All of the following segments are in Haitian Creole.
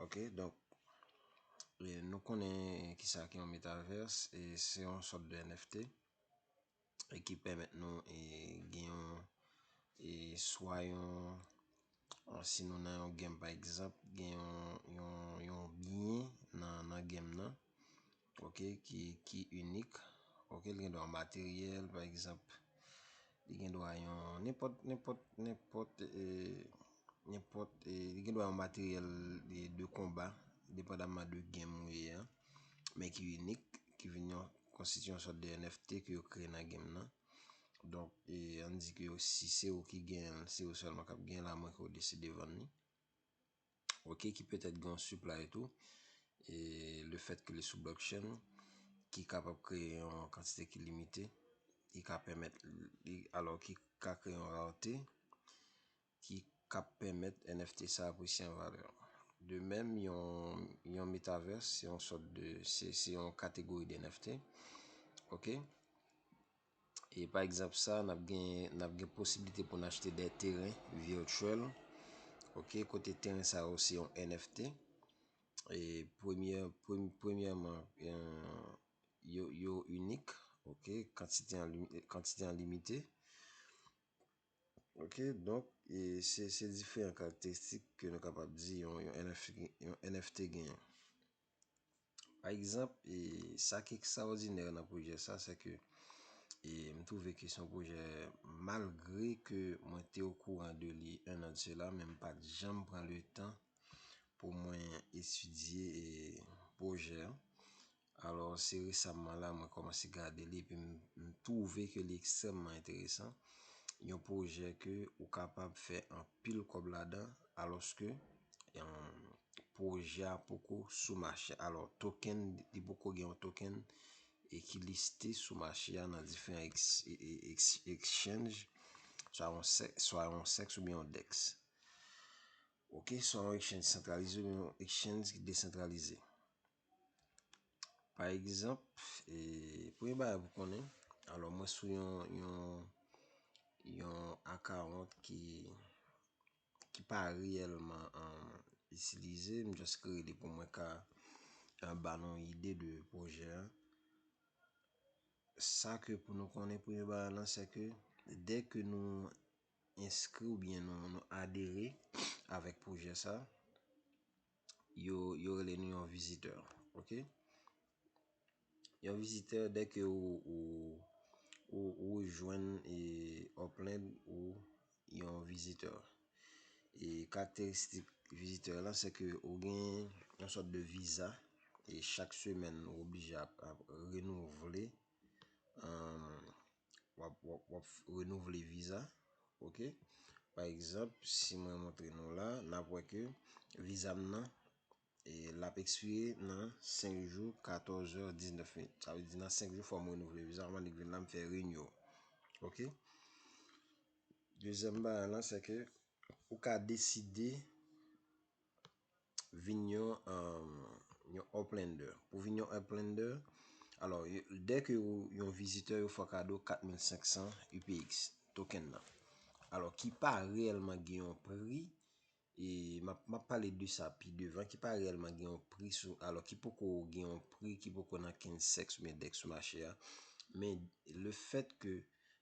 Ok, donk, nou konnen ki sa ki yon metaverse, e se yon sòt de NFT, e ki pèmèt nou e gen yon, e swa yon, an si nou nan yon game pa egzanp, gen yon, yon, yon byen nan, nan game nan. Ok ki ki inik ok li gen dwa materyèl pa egzanp li gen dwa yon nenpòt nenpòt nenpòt nenpòt li gen dwa yon materyèl de konba depandaman de gèm ou ye a men ki inik ki vin yon konstitye yon sòt de NFT ke yo kreye nan gèm nan donk e an di ke yo si se ou ki genyenl se ou sèlman kap genyenl a mwen ke ou deside vann li. ok ki petèt gen yon supply tou e le fèt ke li sou blockchain ki kapab kreye yon kantite ki limite ki ka pèmèt alò ki ka kreye yon rarete ki ka pèmèt NFT sa apresye an valè de menm yon metaverse se yon sòt de se yon kategori de NFT ok E pa egzanp sa, n ap gen, n ap gen posiblite pou n achte dè teren virtuel, ok, kote teren sa yo se yon NFT. E premye, premyèman, yo, yo inik, ok, kantite an li, kantite an limite. Ok, donk, e se, se diferan karakteristik ke nou kapab di yon, yon NFT, yon NFT genyen. Pa egzanp, sa ki ekstraòdinè nan pwojè sa, se ke m twouve ke se yon pwojè malgre ke mwen te okouran de li 1 an de sela, men m pa t janm pran le tan pou mwen etidye pwojè an. Alò, se resamman la mwen kòmanse gade li epi m twouve ke li ekstrèmman enteresan. Yon pwojè ke ou kapab fè anpil kòb ladan Alòske, pwojè a poko sou mache a. Alò, token, li poko gen yon token e ki liste sou mache a nan diferan exchange, swa yon sex oubyen yon dex. Ok, swa yon exchange santralize oubyen yon exchange ki desantralize. Pa egzanp, premye bagay pou konnen, alò mwen sou yon akawont ki pa reyèlman itilize, m jis kreye li pou mwen ka ba nou yon ide de pwojè a. Sa ke pou nou konnen premye bagay lan, se ke dèke nou enskri oubyen nou adere avèk pwojè sa, yo rele nou yon vizitè. Ok. Yon vizitè dè ke ou jwenn Upland ou yon vizitè. E karakteristik vizitè la se ke ou gen yon sòt de viza e chak semèn ou oblije ap renouvle. wap renouvle viza ok pa egzanp si mwen montre nou la nap wè ke viza m nan lap ekspire nan 5 jou 14 èr 19 min sa vle di nan 5 jou fòm renouvle viza anvan li k vin la m fè renew ok dezyèm bagay lan se ke ou ka deside vin yon yon Uplandr. Pou vin yon Uplandr, alò dè ke ou yon vizitè yo fè w kado 4500 UPX token nan. Alò ki pa reyèlman gen yon pri e map pale de sa pi devan ki pa reyèlman gen yon pri sou alò ki poko gen yon pri ki poko nan knsex oubyen dex sou mache a. Men le fèt ke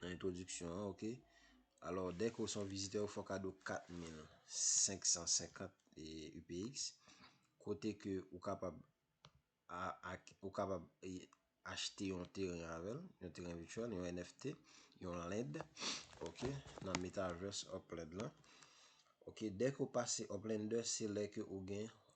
nan entwodiksyon an ok alò dèke ou son vizitè ou fò kado 4550 UPX kote ke ou kapab ou kapab achte yon teren avèl yon teren vityèl yon NFT yon land ok nan metaverse upland lan ok dèke ou pase upland se lè ke ou gen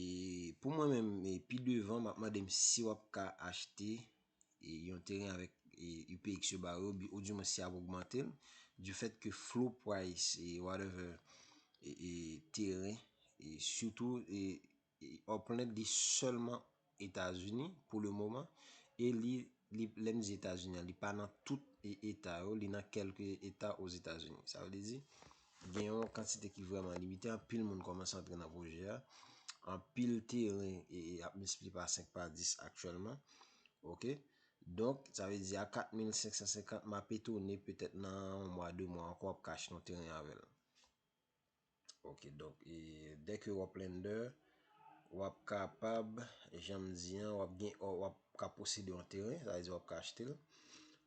E pou mwen menm e pi devan map mande m si wap ka achte e yon teren avèk e UPX yo ba yo bi ou di mwen si ap ogmante l du fèt ke flow price e whatever e e teren e sitou e e Upland li sèlman Etazini pou le moman e li li lè m di Etazini an li pa nan tout eta yo li nan kelke eta ozetazini sa vle di gen yon kantite ki vreman limite anpil moun komanse antre nan pwojè a anpil teren e ap miltipli pa 5 pa 10 aktyelman ok donk sa vle di a 4550 m ap etone petèt nan yon mwa 2 mwa anko w ap ka achte yon teren avèl. Ok donk e dè ke wap lender wap kapab janm di an wap gen wap ka posede yon teren sa vle di wap ka achte l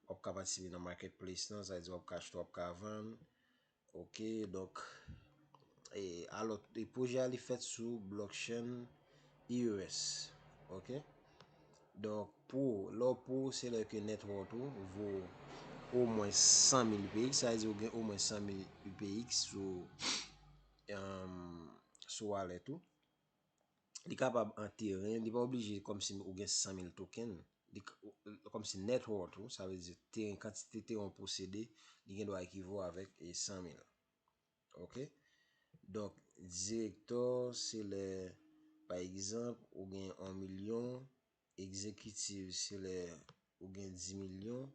wap ka patisipe nan market place lan sa vle di wap ka achte wap ka vann ok donk e alò pwojè a li fèt sou blockchain Heures ok Donk pou ou lè w pou ou se lè ke net worth ou vo omwen 100 mil UPX sa vle di ou gen omwen 100 mil UPX sou sou wallet ou li kapab an teren li pa oblije kòmsi ou gen 100 mil token kòmsi net worth ou sa vle di teren kantite teren ou posede li gen dwa ekivo avèk 100 mil. Ok Donk direktò se lè pa egzanp ou gen 1 milyon, egzekitiv se lè ou gen 10 milyon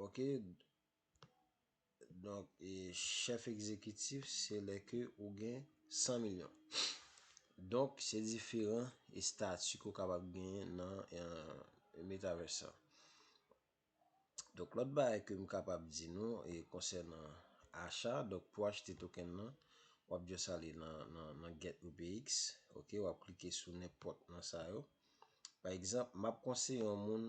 ok Donk chèf egzekitif se lè ke ou gen 100 milyon Donk se diferan estati ke ou kapab genyen nan metaverse sa. Donk lòt bagay ke m kapab di nou e konsènan acha, donk pou achte token nan, w ap just ale nan nan nan get UPX, ok, w ap klike sou nenpòt nan sa yo. Pa egzanp, m ap konseye yon moun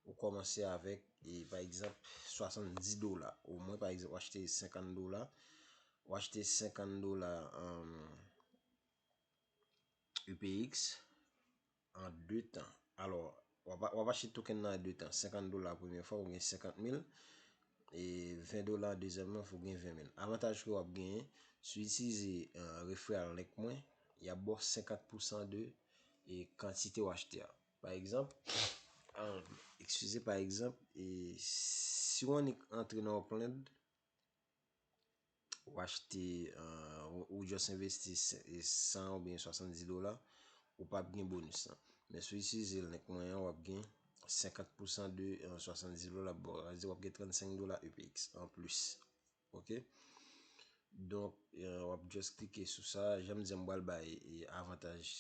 ou kòmanse avèk e pa egzanp 70 dola o mwen pa egzanp w achte 50 dola, w achte 50 dola an UPX. An 2 tan. Alò, w ap achte token nan an 2 tan. 50 dola premye fwa pou gen 50 mil. E 20 dola dezyèm nan pou gen 20 mil. Avantaj ke w ap genyen, si w itilize referral link mwen, y ap ba w 50 pousan de kantite w achte a. Pa egzanp, eskize, pa egzanp, si w annik antre nan yon plan. Ou achte, ou just investi 100 ou byen 70 dola, ou pa ap gen bonus nan. Men sou itilize link mwen an, w ap gen 50 pousan de 70 dola ap ba w. Sa vle di w ap gen 35 dola UPX an plis. Ok? Donk, w ap just klike sou sa. Jan m di an m pral bay avantaj.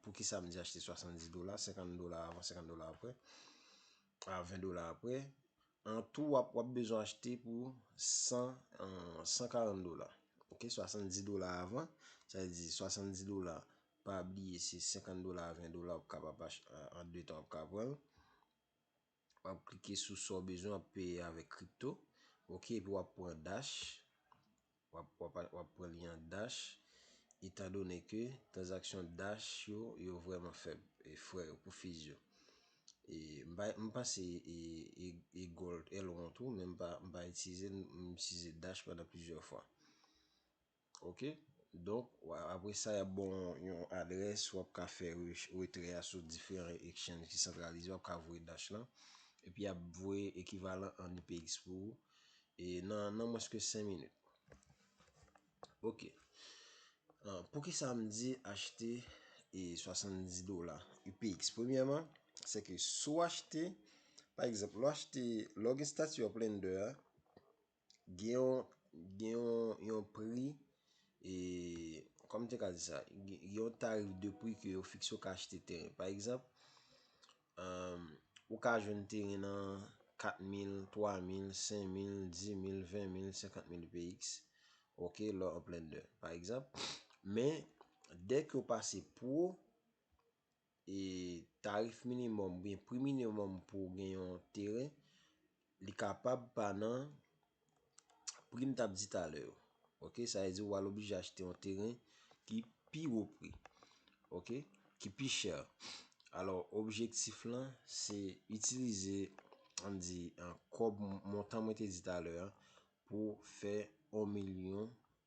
Poukisa m di achte 70 dola, 50 dola avan, 50 dola apre. a 20 dola aprè, an tou wap wap bezwen achte pou 100 140 dola ok 70 dola avan sa vle di 70 dola pa bliye se 50 dola a 20 dola wap kapab an de tan wap ka pranl wap klike sou sa w bezwen wap peye avèk crypto ok epi wap pran dash W ap pran li an Dash, etan done ke tranzaksyon Dash yo, yo vrèman fèb, e frè yo pou fees yo. E m pa, m panse e Gold, Elrond tou, men m pa, m pa itilize l, m itilize Dash pandan plizyè fwa. Ok, donk, apre sa y ap ba w yon adrès, w ap ka fè retrè a sou diferan exchange ki santralize, w ap ka voye Dash lan, epi y ap voye ekivalan an UPX pou ou, E nan nan mwens ke 5 minit. Ok. Pou ki sa m di achte e 70 dola UPX? Premyèman, se ke si w achte, pa egzanp, lè w achte, lè w gen stati Uplander a, gen yon, gen yon, yon pri, e, kòman m te ka di sa? Gen yon tarif de pri ke yo fikse ou ka achte teren. Pa egzanp, Ou ka jwenn teren nan 4 mil, 3 mil, 5 mil, 10 mil, 20 mil, 50 mil px. Ok, lò an plen de. Pa egzanp, men, dèk yo pase pro, e tarif minimum, byen, pri minimum pou gen yon teren, li kapab pa nan Pri m t ap di talè yo. Ok, sa vle di w al oblije achte yon teren ki pi wo pri. Ok, ki pi chè. Alò, objektif lan se itilize, an n di, montan mwen te di talè an pou fè 1 milyon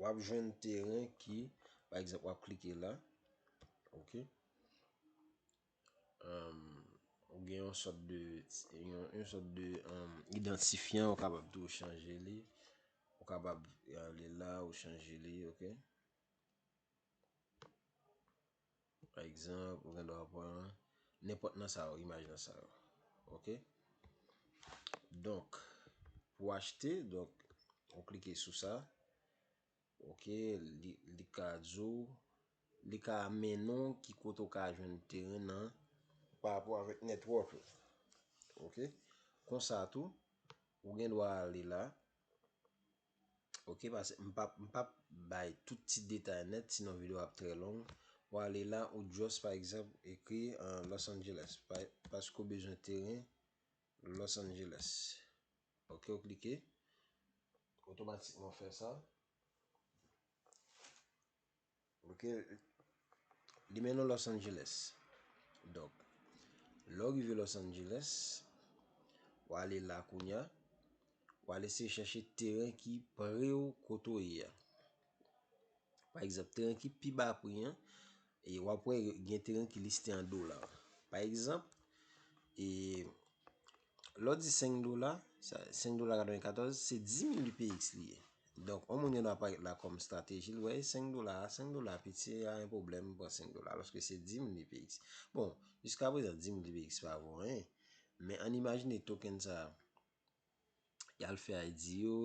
Wap jwenn teren ki, pa egzanp wap klike la, ok, ou gen yon sòt de, yon sòt de idantifyan ou kapab tou chanje li, ou kapab ale la ou chanje li, ok. Pa egzanp, ou gen dwa pran nenpòt nan sa yo, imaj nan sa yo. Ok. Donk, pou achte, donk, ou klike sou sa. Ok, li ka di w, li ka mennen w ki kote ou ka jwenn teren nan pa rapò avèk network ou. Ok. Konsa tou, ou gen dwa ale la. Ok pase m pap m pap bay tout ti detay nèt sinon video ap trè long ou ale la ou just pa egzanp ekri Los Angeles paske ou bezwen teren Los Angeles ok ou klike otomatikman fè sa. Ok Li mennen w Los Angeles Donk lè w rive Los Angeles w ale la kounya w al eseye chèche teren ki pre w kote w ye a Pa egzanp teren ki pi ba pri an e w ap wè gen teren ki liste an dola Pa egzanp e Lè w di 5 dola, 5 dola 94, se 10.000 UPX li ye. Donk, yon moun yon ap parèt la kòm strateji l, wè 5 dola, 5 dola piti, se pa yon pwoblèm pou 5 dola, alòske se 10.000 UPX. Bon, jiska prezan 10.000 UPX pa vo anyen, men an imajine token sa, y al fè IDO,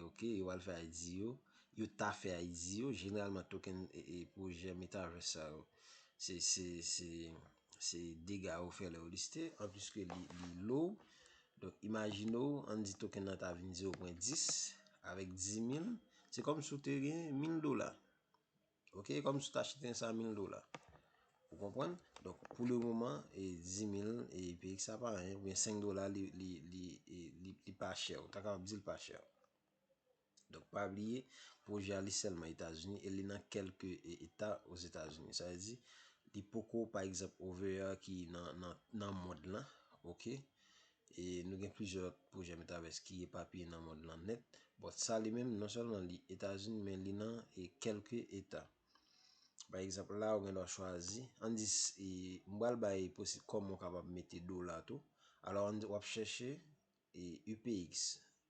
ok, yo al fè IDO, yo ta fè IDO, jeneralman token e pwojè metaverse sa yo, se, se, se. Se dega yo fè lè yo liste. An plis ke li lou. Donk imajine w, an di token nan ta vin 0 pwen 10. Avèk 10 mil. Se kòm si w te gen mil dola. Ok? E kòm si w te achete an sa mil dola. Ou konprann? Donk pou le moman, 10 mil e pi sa pa anyen. Ou byen 5 dola li pa chè. Ou ta kapab di li pa chè. Donk pa bliye, pwojè a li sèlman Etazini e li nan kèlke eta Ozetazini. Sa vle di, li poko pa egzanp OVA ki nan mond lan, ok. E nou gen plizyè lòt pwojè Metaverse ki epapiye nan mond lan nèt. Bòt sa li menm, non sèlman li Etazini men li nan e kèlke eta. Pa egzanp la ou gen dwa chwazi, an di si m pral bay posib kòman ou kapab mete dola tou. Alò an di w ap chèche UPX,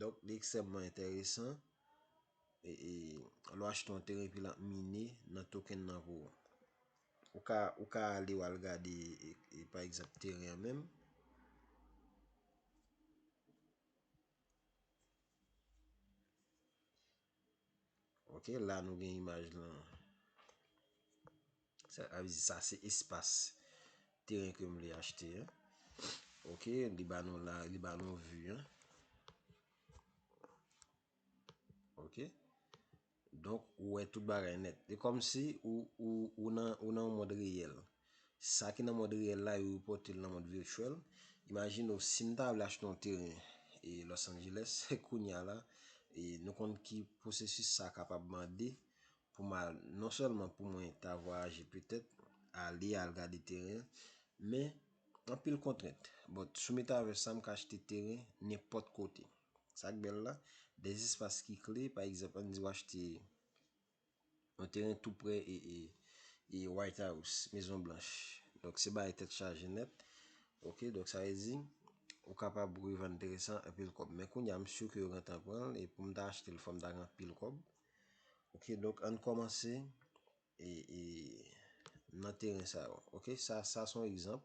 Donk li ekstrèmman enteresan lè w achte yon teren epi l ap mine nan token nan pou ou. Ou ka ale w al gade pa egzanp teren an menm. Ok la nou gen imaj lan. Sa se espas teren ke m vle achte an. Ok li ba nou la li ba nou vi an. Ok. Donk ou wè tout bagay nèt. E kòm si ou nan ou nan yon mond reyèl. Sa ki nan mond reyèl la yo repòte l nan mond virtuel. Imajine w si m ta vle achte yon teren e Los Angeles kounya la e nou konn ki pwosesis sa kapab mande pou m al non sèlman pou mwen ta vwayaje petèt ale al gade teren men anpil kontrent but sou metaverse sa m ka achte teren nenpòt kote. Sa k bèl la, 2 espas ki kle pa egzanp an n di w achte Yon teren tou prè e White House, Mezon Blanch. Donk se bagay tèt chaje nèt. Ok, donk sa vle di, ou kapab revann teren sa an anpil kòb. Men kounya m si ke yo gentan pran l e pou m ta achte l fò m ta gen anpil kòb. Ok, donk ann kòmanse e nan teren sa yo. Ok, sa sa s on egzanp.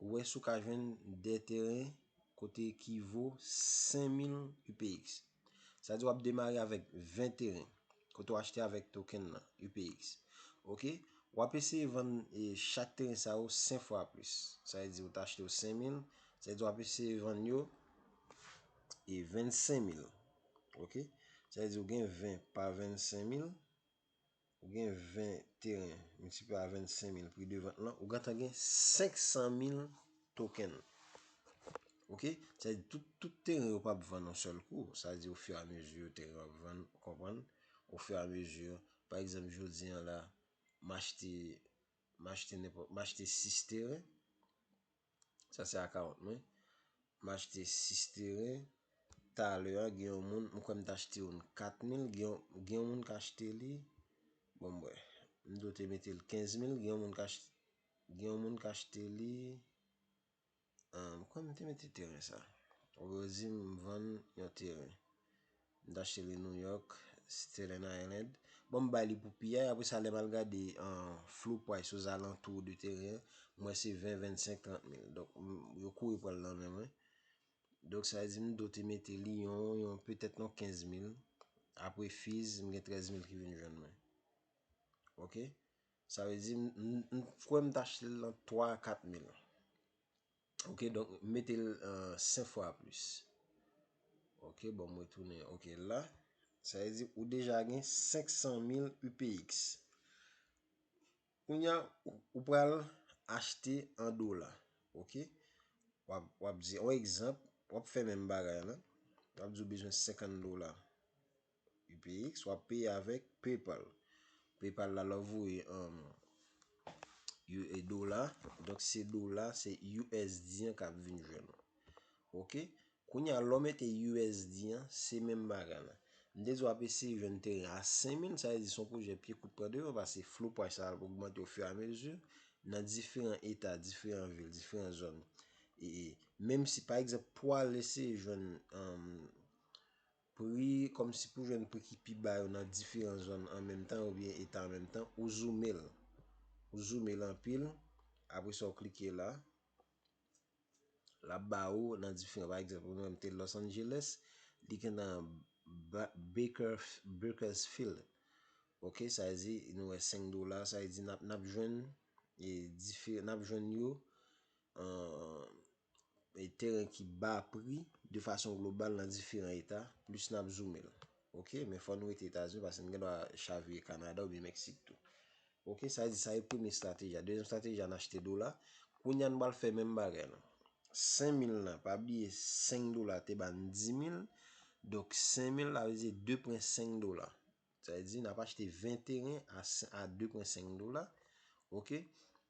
Ou wè si w ka jwenn 2 teren kote ki vo 5000 UPX. Sa di w ap demare avèk 20 teren kote w achte avèk token nan, UPX. Ok, w ap eseye vann chak teren sa yo 5 fwa plis. Sa vle di ou ta achte yo 5000, sa vle di w ap eseye vann yo 25000. Ok, sa vle di ou gen 20 pa 25000. ou gen 20 teren multiplié a 25 mil pri de vant lan, ou gentan gen 500 mil token. Ok, sa di tout teren yo pap vann an sèl kou, sa di ou fè a mezi yo teren ap vann, ou konprann, ou fè a mezi, pa egzanp jodi an la, m achte, m achte nenpòt, m achte 6 teren. Sa se account mwen. M achte 6 teren. Talè a gen yon moun, m kwè m t achte youn 4 mil, gen yon moun k achte li, bon m wè, m dwe te mete l 15 mil, gen yon moun k achte, gen yon moun k achte li, m kwè m te mete teren sa. Ou yo di m vann yon teren. M ta achte li New York, Staten Island. Bon m bay li pou pi a, apre sa lè m al gade floor price ozalantou de teren an, m wè se 20, 25, 30 mil. Donk yo kouri pran l nan men mwen. Donk sa vle di m dwe te mete li yon petèt yon 15 mil. Apre fees, m gen 13 mil ki vin jwenn mwen. Ok? Sa vle di m kwè m ta achte l nan 3 a 4 mil. Ok donk mete l 5 fwa plis. Ok bon mwen tounen ok la. Sa vle di ou deja gen 500 mil UPX. Kounya ou pral achte an dola. Ok. W ap di an egzanp w ap fè menm bagay la. W ap di ou bezwen 50 dola. UPX wap peye avèk PayPal. PayPal la lè w voye an dola, donk se dola, se usd an k ap vin jwenn ou. Ok, kounye a lè w mete usd an, se menm bagay la. M te di w ap eseye jwenn teren a 5000, sa vle di se yon pwojè pye kout pran devan pase flou pwaj sa ap ogmante o firamezi nan diferan eta, diferan vil, diferan zòn. Menm si pa egzanp pou w al eseye jwenn Pri, Kòmsi pou jwenn pri ki pi ba yo nan diferan zòn an menm tan oubyen eta an menm tan, ou zoume l. Ou zoume l anpil, apre sa ou klike la. L ap ba ou nan diferan, pa egzanp, mwen m te Los Angeles, li gen nan Bakersfield. Ok, sa vle di, nou wè 5 dola, sa vle di n ap jwenn yo teren ki ba pri de fason global nan diferan eta plis nap zoume l ok men fò nou rete etazini paske nou gen dwa chavire kanada oubyen meksik tou ok sa di sa e premye estrateji a dezyèm estrateji a n achte dola kounye a nou pral fè menm bagay la 5000 nan pa bliye 5 dola te ba n 10000 donk 5000 la vle di 2 pwen 5 dola sa vle di nap achte 20 teren a 2 pwen 5 dola ok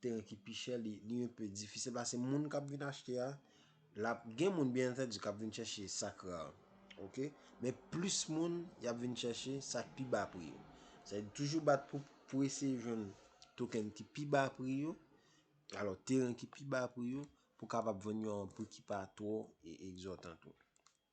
Teren ki pi chè li un peu difisil pase moun kap vin achte a lap gen moun byen antèdi kap vin chèche sak ra ok men plis moun yap vin chèche sak pi ba pri yo sa vle di toujou bat pou pou eseye jwenn token ki pi ba pri yo alò teren ki pi ba pri yo pou kapab vann yo a un pri ki pa twò egzòtan tou.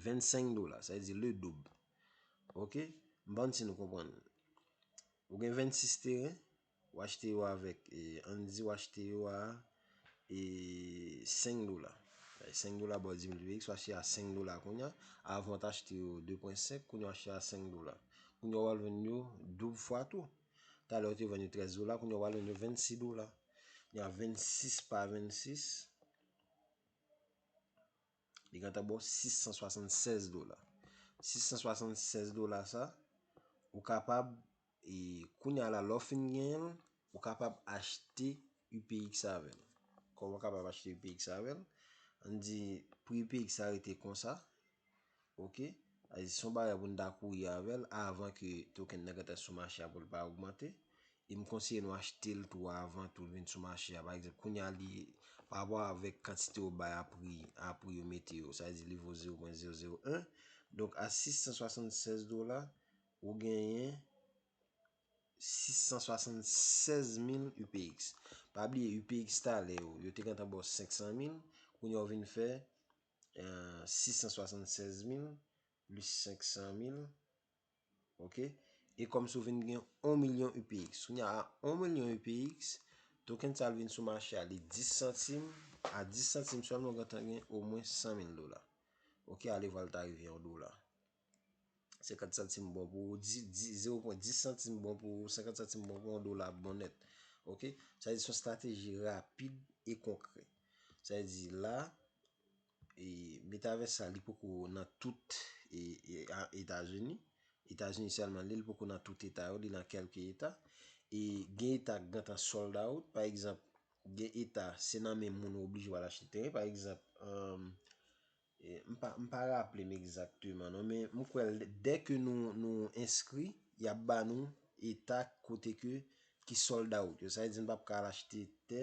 25 dola, sa vle di le doub. Ok, m pa konn si nou konprann. Ou gen 26 teren, ou achte yo avèk, an n di ou achte yo a 5 dola. 5 dola ba w dimiltipliye x, ou achte yo a 5 dola kounya. Avan ou te achte yo 2.5, kounya ou achte yo a 5 dola. Kounya ou al vann yo doub fwa tou. Talè ou te vann yo 13 dola, kounya ou al vann yo 26 dola. Kounya 26 pa 26. Li gentan ba w 676 dola. 676 dola sa, ou kapab, e kounye a la lè w fin genyen l, ou kapab achte UPX avè l. Kòman w kapab achte UPX avè l? An n di pri UPX sa rete konsa, ok, se yon bagay pou n ta kouri avè l avan ke token nan gentan sou mache a pou l pa ogmante. E m konseye nou achte l tou avan tou l vin sou mache a. Pa egzanp, kounye a li, pa rapò avèk kantite yo bay a pri, a pri yo mete yo, sa vle di li vo 0.001. Donk a 676 dola, ou genyen 676 mil UPX. Pa bliye UPX talè yo, yo te gentan ba w 500 mil, kounye a ou vin fè 676 mil plis 500 mil. Ok. E kòm si w vin gen 1 milyon UPX. Kounya a 1 milyon UPX, token sa vin sou mache a li 10 santim. A 10 santim sèlman ou gentan gen omwen 100 mil dola. Ok, ale vwa l ta rive an dola. 50 santim bon pou 0.10 santim bon pou 50 santim bon pou 1 dola bon nèt. Ok. Sa di son strateji rapid e konkrè. Sa di la. E metavès sa li poko nan tout etazini. Etazini selman li li poko nan tout eta yo li nan kelke eta. E gen eta ki gentan sold out pa egzanp gen eta se nan men moun ou oblije wal achte teren pa egzanp M pa raple m egzakteman non men m kwe dèke nou enskri yap ba nou eta kote ke ki sold out yo sa vle di nou pap ka al achte tè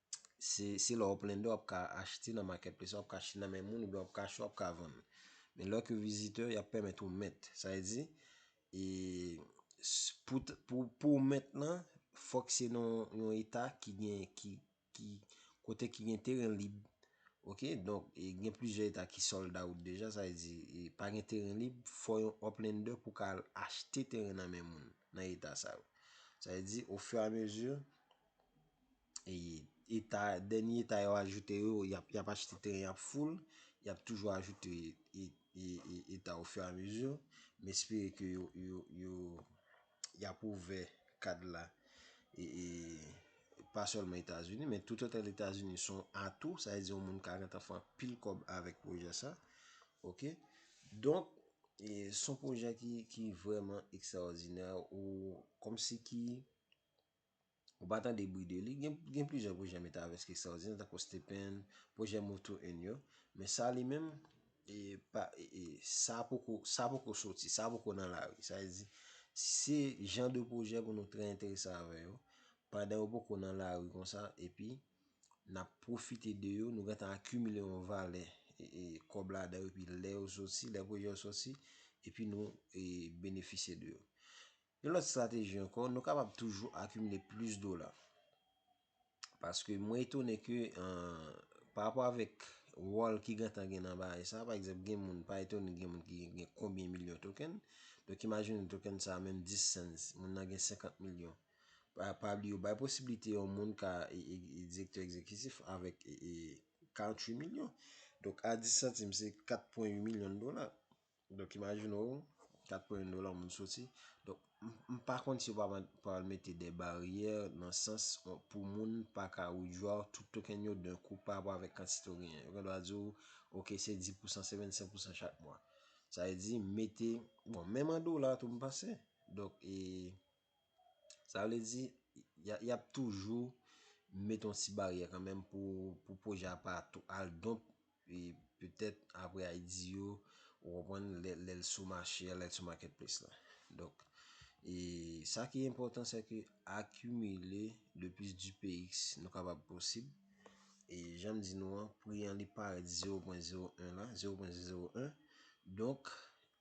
Se lè w plende w ap ka achte nan marketplace la, w ap ka achte nan men moun, oubyen w ap ka achte, w ap ka vann. Men lè w ke viziteur, y ap pèmèt ou mèt. Sa vle di, e pou w mèt lan, fòk se nan yon eta ki gen, ki kote ki gen teren lib. Ok, donk, e gen plizyè eta ki sold out deja, sa vle di, e pa gen teren lib, fò yon uplender pou ka al achte teren nan men moun, nan eta sa yo. Sa vle di, o fur et a mesure, eta, dènye eta yo ajoute yo, y ap, y ap achte teren, y ap foul, y ap toujou ajoute eta o fur a mesure. M espere ke yo, yo, yo, y ap ouvè kad la, e, e, pa sèlman Etazini, men tout otèl Etazini son atou, sa vle di yon moun ka gentan fè anpil kòb avèk pwojè sa, ok. Donk, e, son pwojè ki, ki vrèman ekstraòdinè, ou, kòmsi ki, Ou pa tande bri de li. Gen plizyè pwojè Metaverse ki ekstraòdinè tankou Stephen, pwojè Move to Earn yo. Men sa li menm, sa poko soti, sa poko nan lari. Sa vle di, se jan de pwojè pou nou trè enterese avè yo. Pandan yo poko nan lari konsa, epi n ap pwofite de yo, nou gentan akimile yon valè kòb ladan yo, epi lè yo soti, lè pwojè yo soti, epi nou benefisye de yo. Yon lòt strateji ankò, nou kapab toujou akimile plis dola. Paske mwen etone ke pa rapò avèk wòl ki gentan gen nan bagay sa, pa egzanp gen moun, pa etone gen moun ki gen konbyen milyon token, donk imajine token sa menm 10 cents, moun nan gen 50 milyon. Pa bli yo bay posibilite yon moun ka direktè egzekitif avèk 48 milyon. Donk a 10 santim se 4.8 milyon dola. Donk imajine w, 4 pwen 1 dola yon moun soti. Donk, m pa konn si yo pa pral mete de baryè nan sans pou moun pa ka widjwa w tout token yo dan kou pa rapò avèk kantite w genyen. Yo gendwa di w, ok se 10 pousan, se 25 pousan chak mwa. Sa vle di, mete, bon menm an dola tou m panse. Donk e. Sa vle di, y ap toujou met yon ti baryè kanmenm pou pwojè a pa tou al donk e petèt apre a di yo ou konprann lè l sou mache a, lè l sou makètples la. Donk, e sa ki enpòtan se ke akimile le plis dpx nou kapab posib. E jan m di nou an, pri an li parèt 0.01 la, 0.001. Donk,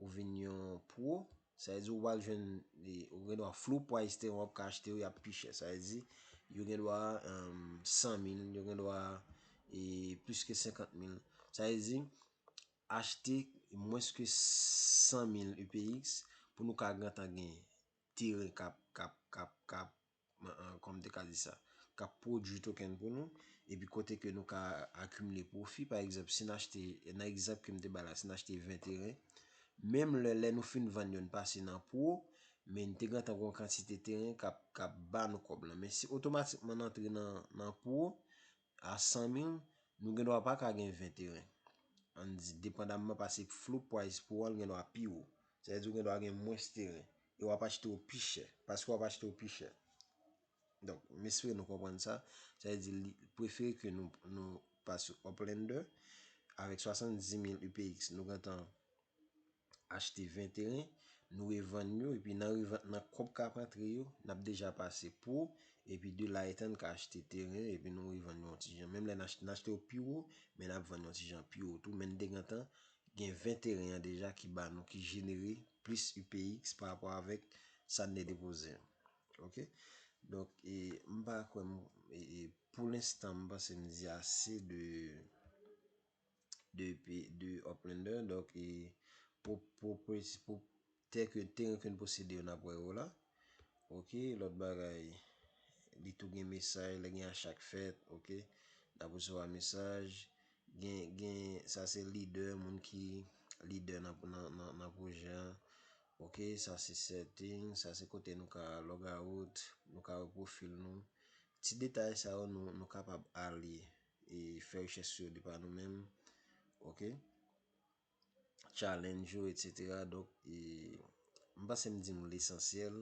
Ou vin yon pro, sa vle di ou pral jwenn, ou gen dwa flou pwa Ethereum wap ka achte yo yap pi chè. Sa vle di yo gen dwa 100 mil, yo gen dwa plis ke 50 mil. Sa vle di achte mwens ke 100 mil UPX pou nou ka gentan gen teren kap kap kap kap kòman m te ka di sa, k ap pwodui token pou nou, epi kote ke nou ka akimile pwofi. Pa egzanp, si n achte, nan egzanp ke m te bay la, si n achte 20 teren, menm lè, lè nou fin vann yo, n pase nan pwo, men n te gentan gon kantite teren k ap, k ap ba nou kòb lan. Men si otomatikman n antre nan, nan pwo, A 100 mil, nou gen dwa pa ka gen 20 teren. Ann di, depandamman pase floor price pou an gen dwa pi wo. Sa vle di ou gen dwa gen mwens teren. E w ap achte yo pi chè. Paske w ap achte yo pi chè. Donk, m espere nou konprann sa. Sa vle di, li prefere ke nou pa sou Uplander. Avèk 70 mil UPX, nou gentan. achte 20 teren, nou revann yo epi nan revant nan kòb kap antre yo, nap deja pase pou, epi de la etan ka achte teren epi nou revann yo yon ti jan. Menm lè n achte, n achte yo pi wo, men nap vann yon ti jan pi wo tou, men n te gentan gen 20 teren an deja ki ba nou, ki jenere plis UPX pa rapò avèk sa n te depoze an. Ok. Donk, e m pa kwè m, e pou lenstan m panse m di ase de. de pi de Uplander donk e pou pou pou tè ke teren ke n posede yo nap wè yo la ok lòt bagay li tou gen mesaj lè gen acha k fèt ok nap resevwa mesaj gen gen sa se lidè moun ki lidè nan nan nan pwojè an ok sa se setting sa se kote nou ka logout nou ka wè pwofil nou ti detay sa yo nou nou kapab ale e fè rechèch sou yo de pa nou menm ok challenge yo etc donk e m panse m di nou lesansyèl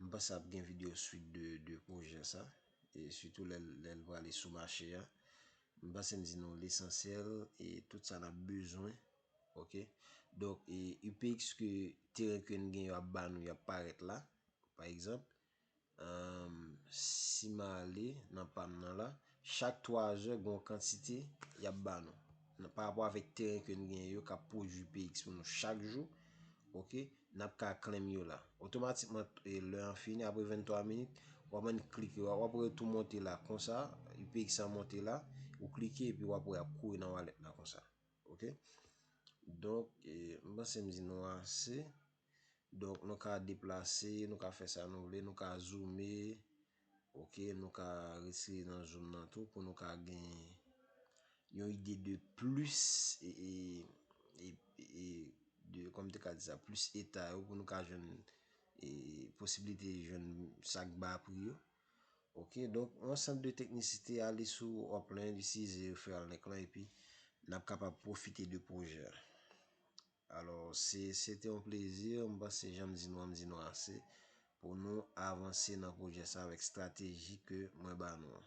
m panse ap gen video swit de projè sa e sitou lè l prale sou mache a m panse m di nou lesansyèl e tout sa n ap bezwen ok donk e upx ke teren ke n gen yo ap ba nou y ap parèt la pa egzanp Humm si m ale nan pa m nan la. Chak 3 zè gen yon kantite y ap ba nou. Nan pa rapò avèk teren ke n genyen yo k ap pwodui px pou nou chak jou. Ok. N ap ka klem yo la. Otomatikman lè an fini apre 23 minit w ap annik klike. W ap wè tou monte la konsa. Px an monte la. Ou klike epi w ap wè y ap kouri nan walèt la konsa. Ok. Donk m panse m di nou ase. Donk nou ka deplase, nou ka fè sa nou vle, nou ka zoome, ok, nou ka retire nan zoom nan tou pou nou ka gen yon ide de plis e de kòm te ka di sa, plis eta yo pou nou ka jwenn e posibilite jwenn sa k ba pri yo. Ok, donk yon sant de teknisite ale sou Oplin, li size referral link lan epi n ap kapab pwofite de pwojè a. Alò, se se te yon plezi, m panse jan m di nou an, m di nou ase, pou nou avanse nan pwojè sa avèk strateji ke mwen ba nou an.